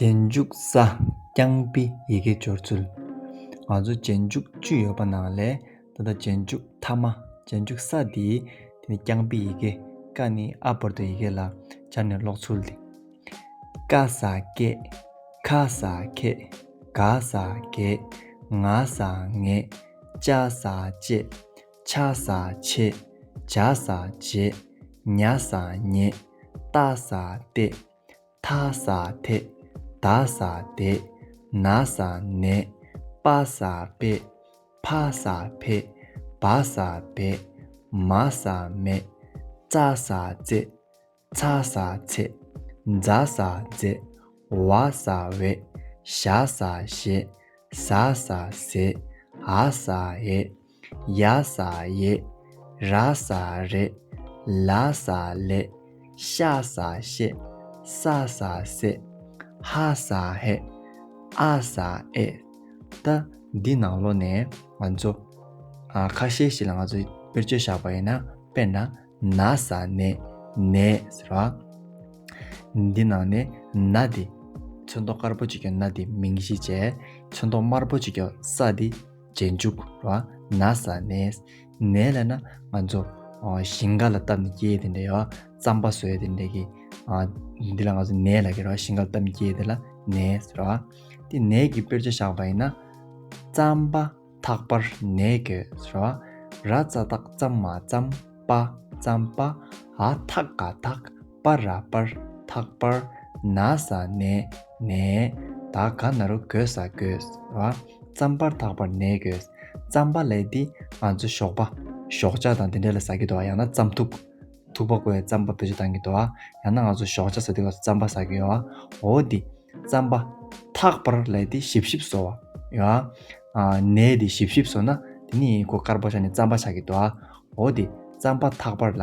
རྗེས་འཇུག་ས་རྐྱང་པའི་ཡི་གེ་སྦྱོར་ཚུལ། ང་ཚོ་རྗེས་འཇུག་བཅུ་ཡོད་པ་ནང་ལས་ད་ལྟ་རྗེས་འཇུག་མཐའ་མ་རྗེས་འཇུག་ས་དེའི་དེ་ནི་རྐྱང་པའི་ཡི་གེ་ཀ་ནི་ཨ་བར་དོའི་ཡི་གེ་ལ་སྦྱར་ནས་ཀློག་ཚུལ་ཏེ། ཀ་ས་ཀེ། ཁ་ས་ཁེ། ག་ས་གེ། ང་ས་ངེ། ཅ་ས་ཅེ། ཆ་ས་ཆེ། བྱ་ས་བྱེ། ཉ་ས་ཉེ། ལྟ་ས་ལྟེ། ཐ་ས་དེ། ད་ས་དེ། ན་ས་ནེ། པ་ས་པེ། ཕ་ས་ཕེ། བ་ས་བེ། མ་ས་མེ། ཙ་ས་ཙེ། ཚ་ས་ཚེ། འཛ་ས་འཛེ། བ་ས་བེ། ཞ་ས་ཞེ། ཟ་ས་ཟེ། ཨ་ས་ཨེ། ཡ་ས་ཡེ། ར་ས་རེ། ལ་ས་ལེ། ཤ་ས་ཤེ། ས་ས་སེ། ཧ་ས་ཧེ། ཨ་ས་ཨེ། ད། འདི་ནང་ལོ་ནས་ང་ཚོ། ཁ་ཤས་ཤིག་ལ་ང་ཚོ་དཔེར་བརྗོད་བཞག་པ་ཡིན་ན། དཔེར་ན། ན་ས་ནེ། ནེ། ཟེར་བ། འདི་ནང་ནས་ན་འདི། ཚོན་མདོག་དཀར་པོ་ཅིག་གི་ན་འདི་མིང་གཞི་བྱས། ཚོན་མདོག་དམར་པོ་ཅིག་གི་ས་འདི། རྗེས་འཇུག་ལ་ན་བཟའ་ནས་ནས་ལ་ན་ང་ཚོ་ཞིང་ཁ་ལ་བཏབ་ནས་སྐྱེས་དེ་འདྲའི་རྩམ་པ་ཟོས་དེ་འདྲའི་གི་འདི་ལ་ང་ཚོ་ནས་ལ་གི་ར་ཞིང་ཁ་ལ་བཏབ་ནས་སྐྱེས་དེ་ལ་ནས་ར་དེ་ནས་གི་དཔེར་བྱ་བཞག་པ་ཡིན་ན། རྩམ་པ་ཐག་པར་ནས་གོས་ར་ར་རྩ་ཐག་རྩམ་མ་རྩམ་པ་རྩམ་པ་ཨ་ཐག་ག་ཐག། པ་ར་པར་ཐག་པར་ན་ཟ་ནས་ནས་ད་ག་ན་རུ་གོས་ཟ་གོས་བ་རྩམ་པར་ཐག་པར་ནས་གོས་རྩམ་པ་ལས་འདི་ང་ཚོ་ཞོགས་པ་ཞོགས་ཇག་དང་དེ་འདྲ་ལ་ཟ་གི་འདུག་ཨ་ཡང་ན་རྩམ་ཐུག་ཐུག་པ་གོས་རྩམ་པ་བེད་སྤྱོད་གཏང་གི་འདུག་ཨ་ཡང་ན་ང་ཚོ་ཞོགས་ཇག་ཟ་དུས་ང་ཚོ་རྩམ་པ་ཟ་གི་ཡོད་ཨ་འོ་འདི་རྩམ་པ་ཐག་པར་ལས་འདི་ཞིབ་ཞིབ་བཟོ་བ་ཡོད་ཨ་ཨ་ནས་འདི་ཞིབ་ཞིབ་བཟོ་ན་འདི་ནི་ཁོ་དཀར་པོ་ཤ་ནི་རྩམ་པ་ཆགས་གི་འདུག་ཨ་འོ་འདི་རྩམ་པ་ཐག་པར་ལ་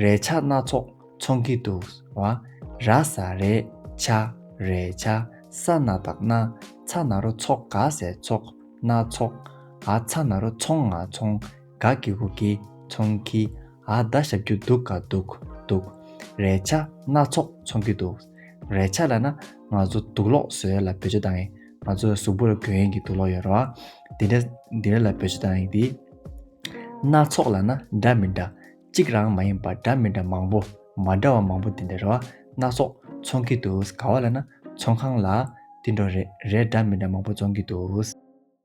རས་ཆ་སྣ་ཚོགས་འཚོང་གི་འདུག་བ། ར་ས་རས་ཆ་རས་ཆ་ས་ན་དག་ན་ཚ་ན་རོ་ཚོགས་ག་ཟས་ཚོགས་སྣ་ཚོགས་ཨ་ཚ་ན་རོ་ཚོང་ང་ཚོང་ག་གི་གུ་གི་ཚོང་གི་ཨ་ད་ཞབས་ཀྱུ་འདུག་ག་འདུག་འདུག་རས་ཆ་སྣ་ཚོགས་འཚོང་གི་འདུག་རས་ཆ་ལ་ན་ང་ཚོ་འདུག་ལོག་བཟོས་ལ་བེད་སྤྱོད་དང་ཡིན་ང་ཚོ་གཟུགས་པོ་ལ་གོས་ཡིན་གི་འདུག་ལོག་ཡོད་ར་བ། འདི་འདྲ་འདི་འདྲ་ལ་བེད་སྤྱོད་དང་ཡིན་དེ། སྣ་ཚོགས་ལ་ན་འདྲ་མི་འདྲ་གཅིག་རང་མ་ཡིན་པར་འདྲ་མི་འདྲ་མང་པོ་མ་འདྲ་བ་མང་པོ་དེ་འདྲ་རེད་བ་སྣ་ཚོགས་ཚོང་གི་འདུག་ག་བ་ལ་ན་ཚོང་ཁང་ལ་དེ་འདྲ་རེད་འདྲ་མི་འདྲ་མང་པོ་བཙོང་གི་འདུག།